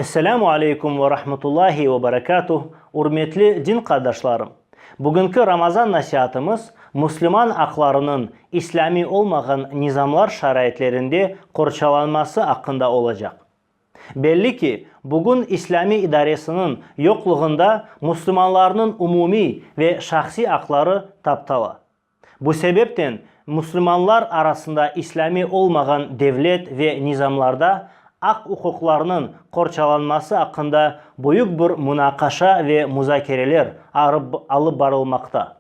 Esselamu aleykum ve rahmetullahi ve berekatuh, ürmetli din qardaşlarım! Bugünki Ramazan nasiatımız müslüman aqlarınıñ islâmiy olmağan nizamlar şaraitlerinde qorçalanması aqqında olacaq. Belli ki, bugün islâmiy idaresiniñ yoqluğında müslümanlarnıñ umumiy ve şahsiy aqları taptala. Bu sebepten müslümanlar arasında islâmiy olmağan devlet ve nizamlarda aq-uquqlarnıñ qorçalanması aqqında büyük bir munaqaşa ve muzakereler alıp barılmaqta.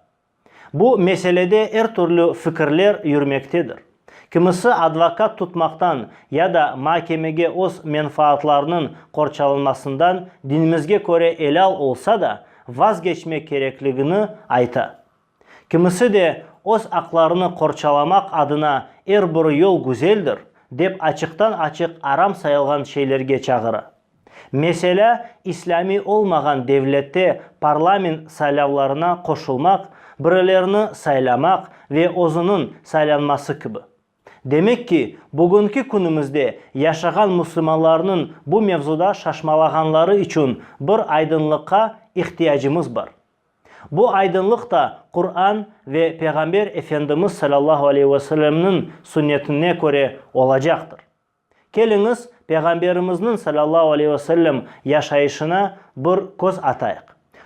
Bu meselede er türlü fikirler yürmektedir. Kimisi advokat tutmaqtan ya da makemege öz menfaatlarınıñ qorçalanmasından dinimizge köre elâl olsa da, vazgeçmek kerekligini ayta. Kimisi de öz aqlarını qorçalamaq adına er bir yol güzeldir, dep açıqtan-açıq aram sayılğan şeylerge çağıra. Meselâ, islâmiy olmağan devlette parlament saylavlarına qoşulmaq, birilerini saylamaq ve özüniñ saylanması kibi. Demek ki, bugünki künümizde yaşağan müslümanlarnıñ bu mevzuda şaşmalağanları içün bir aydınlıqqa ihtiyacımız bar. Bu aydınlıq da Quran ve Peyğamber Efendimiz salâllahu aleyhi ve sellemniñ sünnetine köre olacaqtır. Keliñiz, Peyğamberimizniñ, salâllahu aleyhi ve sellem, yaşayışına bir köz atayıq.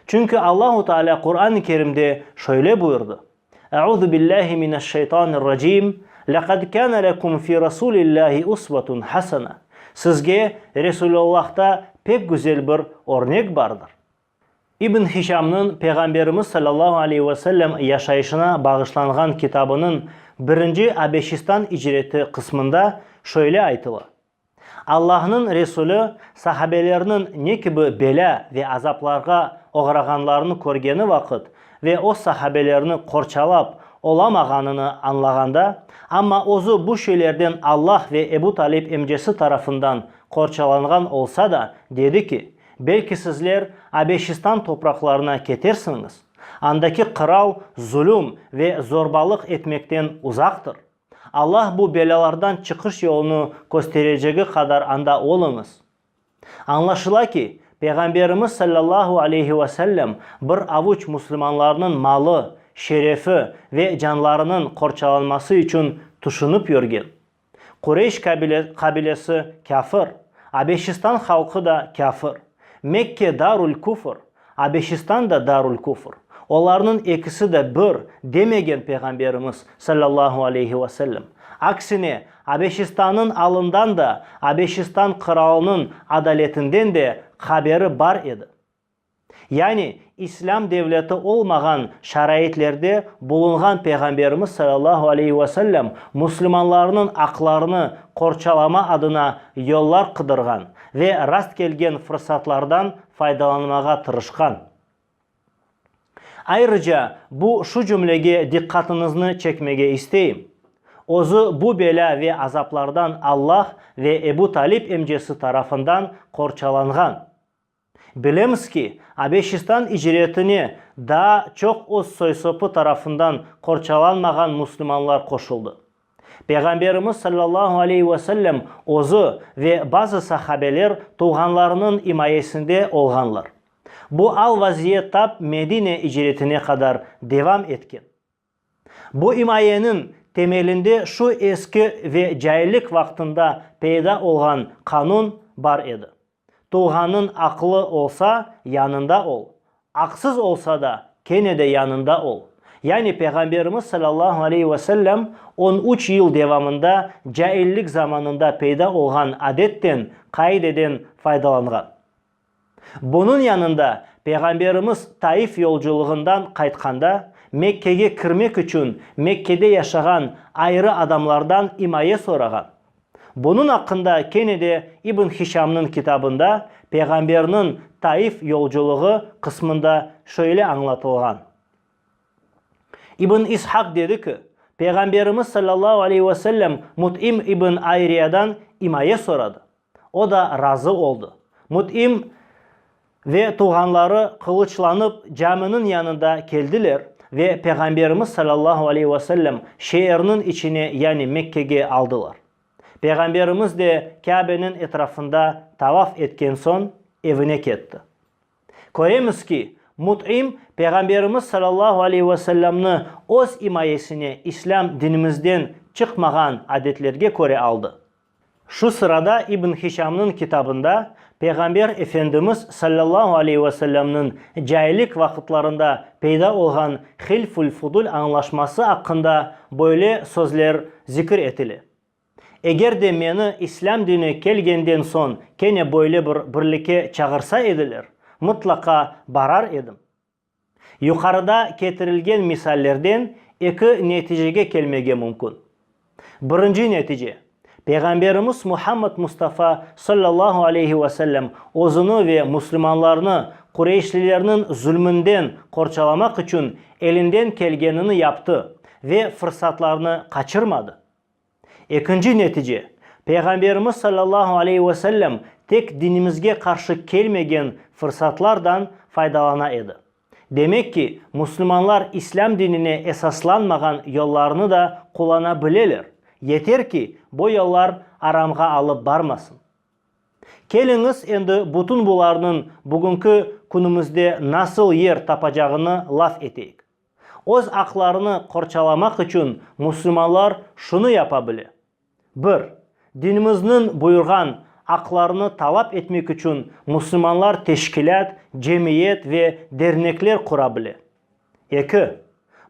Çünki Allahu Teala Quran-ı Kerimde şöyle buyurdı, Euzu billahi mineşşeytanirracim, Leqad kâne lekum fî Rasûlillâhi usvetun hasene, Sizge Resûlullah'ta pek güzel bir örnek bardır. İbn Hişamnıñ Peyğamberimiz sallallahu aleyhi ve sellem yaşayışına bağışlanğan kitabınıñ birinci Abeşistan icreti qısmında şöyle aytıla, Allahnıñ Resulü sahabelerniñ ne kibi belâ ve azaplarğa oğrağanlarını körgeni vaqıt ve öz sahabelerini qorçalap olamağanını añlağanda, amma özü bu şeylerden Allah ve Ebu Talib emcesi tarafından qorçalanğan olsa da, dedi ki, Belki sizler Abeşistan topraqlarına ketersiñiz, andaki qıral zulüm ve zorbalıq etmekten uzaqtır. Allah bu belâlardan çıqış yolunı kösterecegi qadar anda oluñız. Añlaşıla ki, Peyğamberimiz sallallahu aleyhi ve sellem bir avuç muslimanlarnıñ malı, şerefi ve canlarınıñ qorçalanması içün tüşünip yürgen. Qureyş qabilesi kâfir, Abeşistan halqı da kâfir. Mekke darul küfr, Abeşistan da darul küfr. Olarnıñ ekisi de bir, demegen Peyğamberimiz, sallallahu aleyhi ve sellem. Aksine, Abeşistanıñ alından da, Abeşistan qıralınıñ adaletinden de haberi bar edi. Yani, İslâm devleti olmağan şaraitlerde bulunğan Peyğamberimiz sallallahu aleyhi ve sellem müslümanlarnıñ aqlarını qorçalama adına yollar qıdırğan ve rast kelgen fırsatlardan faydalanmağa tırışqan. Ayrıca, bu şu cümlege diqqatıñıznı çekmege isteyim, Özü bu belâ ve azaplardan Allah ve Ebu Talib emcesi tarafından qorçalanğan. Bilemiz ki, Abeşistan icretine daa çoq öz soy-sopı tarafından qorçalanmağan müslümanlar qoşuldı. Peyğamberimiz sallallahu aleyhi ve sellem özü ve bazı sahabeler tuvğanlarınıñ imayesinde olğanlar. Bu al-vaziyet tap Medine icretine qadar devam etken. Bu imayeniñ temelinde şu eski ve caillik vaqtında peyda olğan qanun bar edi, Tulğanıñ aqlı olsa, yanında ol, aqsız olsa da, kene de yanında ol. Yani Peyğamberimiz salâllahu aleyhi ve sellem on üç yıl devamında caillik zamanında peyda olğan adetten, qaideden faydalanğan. Bunıñ yanında, Peyğamberimiz Taif yolculığından qaytqanda, Mekkege kirmek içün Mekkede yaşağan ayrı adamlardan imaye sorağan. Bunıñ aqqında kene de İbn Hişamnıñ kitabında Peyğamberniñ Taif yolculuğı qısmında şöyle añlatılğan, İbn İshaq dedi ki, Peyğamberimiz sallallahu aleyhi ve sellem Mut'im ibn Ayriyadan imaye soradı. O da razı oldı. Mut'im ve tuvğanları qılıçlanıp caminiñ yanında keldiler ve Peğamberimiz sallallahu aleyh ve sellem şeerniñ içine, yani Mekkege aldılar. Peğamberimiz de Kâbeniñ etrafında tavaf etken soñ evine ketti. Köremiz ki, Mut'im Peğamberimiz sallallahu aleyh ve sellemni öz imayesine islâm dinimizden çıqmağan adetlerge köre aldı. Şu sırada İbn Hişamnıñ kitabında Peyğamber Efendimiz sallallahu aleyh ve sellemniñ cahillik vaqıtlarında peyda olğan hilfül fudul añlaşması aqqında böyle sözler zikir etile, Eger de meni İslâm dine kelgenden soñ kene böyle bir birlike çağırsa ediler, mıtlaqa barar edim. Yuqarıda ketirilgen misallerden eki neticege kelmege mümkün. Birinci netice, Peyğamberimiz Muhammed Mustafa sallallahu aleyhi ve sellem özüni ve müslümanlarnı Qureyşlilerniñ zulmünden qorçalamaq içün elinden kelgenini yaptı ve fırsatlarnı qaçırmadı. Ekinci netice, Peyğamberimiz sallallahu aleyhi ve sellem tek dinimizge qarşı kelmegen fırsatlardan faydalana edi. Demek ki, müslümanlar İslâm dinine esaslanmağan yollarnı da qullana bileler, yeter ki, bu yollar aramğa alıp barmasın. Keliñiz, endi bütün bularnıñ bugünki künümizde nasıl yer tapacağını laf eteyik. Öz aqlarını qorçalamaq içün müslümanlar şunı yapa bile, bir, dinimizniñ buyurğan aqlarını talap etmek içün müslümanlar teşkilât, cemiyet ve dernekler qura bile. Eki,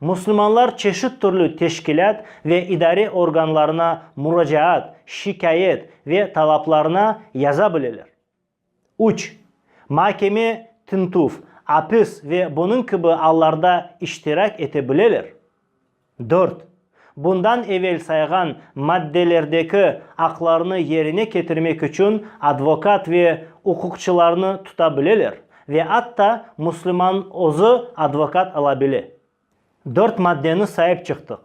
müslümanlar çeşit türlü teşkilât ve idare organlarına muracaat, şikâyet ve talaplarına yaza bileler. Üç, makeme, tintüv, apis ve bunıñ kibi allarda iştirak ete bileler. Dört, bundan evel sayğan maddelerdeki aqlarını yerine ketirmek içün advokat ve uquqçılarnı tuta bileler ve atta müslüman özü advokat ala bile. Dört maddeni sayıp çıqtıq.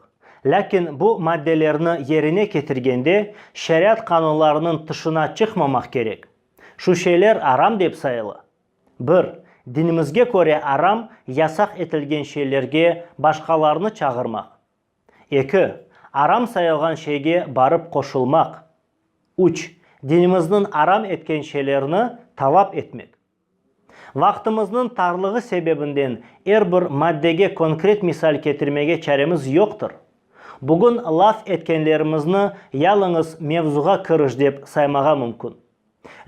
Lâkin bu maddelerni yerine ketirgende şeriat qanunlarınıñ tışına çıqmamaq kerek. Şu şeyler aram dep sayıla. Bir, dinimizge köre aram, yasaq etilgen şeylerge başqalarnı çağırmaq. Eki, aram sayılğan şeyge barıp qoşulmaq. Üç, dinimizniñ aram etken şeylerni talap etmek. Vaqtımıznıñ tarlığı sebebinden er bir maddege konkret misal ketirmege çaremiz yoqtır. Bugün laf etkenlerimizni yalıñız mevzuğa kiriş dep saymağa mümkün.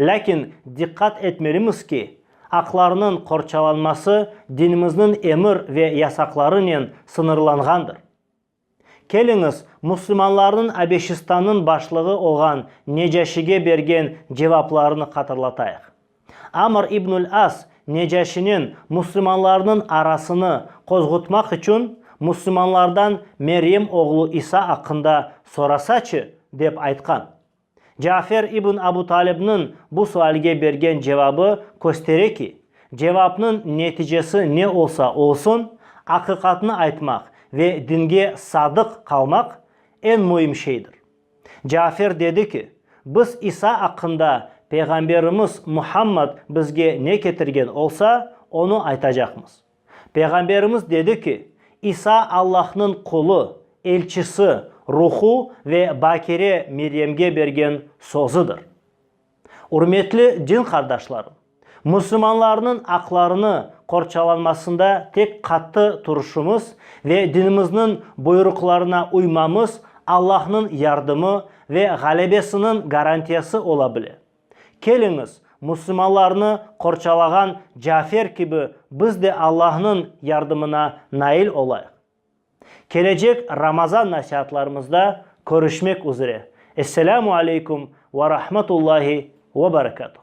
Lâkin diqqat etmelimiz ki, aqlarnıñ qorçalanması dinimizniñ emir ve yasaqlarınen sıñırlanğandır. Keliñiz, müslümanlarnıñ Abeşistannıñ başlığı olğan Necaşige bergen cevaplarını hatırlatayıq. Amr ibnül As Necaşinen müslümanlarnıñ arasını qozğutmaq içün müslümanlardan Meryem oğlu İsa aqqında sorasaçı, dep aytqan. Cafer ibn Abu Talibniñ bu sualge bergen cevabı köstere ki, cevapnıñ neticesi ne olsa olsun, aqiqatnı aytmaq ve dinge sadıq qalmaq eñ müim şeydir. Cafer dedi ki, biz İsa aqqında Peyğamberimiz Muhammad bizge ne ketirgen olsa, onı aytacaqmız. Peyğamberimiz dedi ki, İsa Allahnıñ qulu, elçisi, ruhu ve bakire Meryemge bergen sözüdir. Ürmetli din qardaşlarım, müslümanlarnıñ aqlarını qorçalanmasında tek qattı turuşımız ve dinimizniñ buyruqlarına uymamız Allahnıñ yardımı ve ğalebesiniñ garantiyası ola bile. Keliñiz, musulmanlarnı qorçalağan Cafer kibi biz de Allahnıñ yardımına nail olayıq. Kelecek Ramazan nasiatlarımızda körüşmek üzere. Esselâmu aleykum ve rahmetullâhi ve berekâtuh.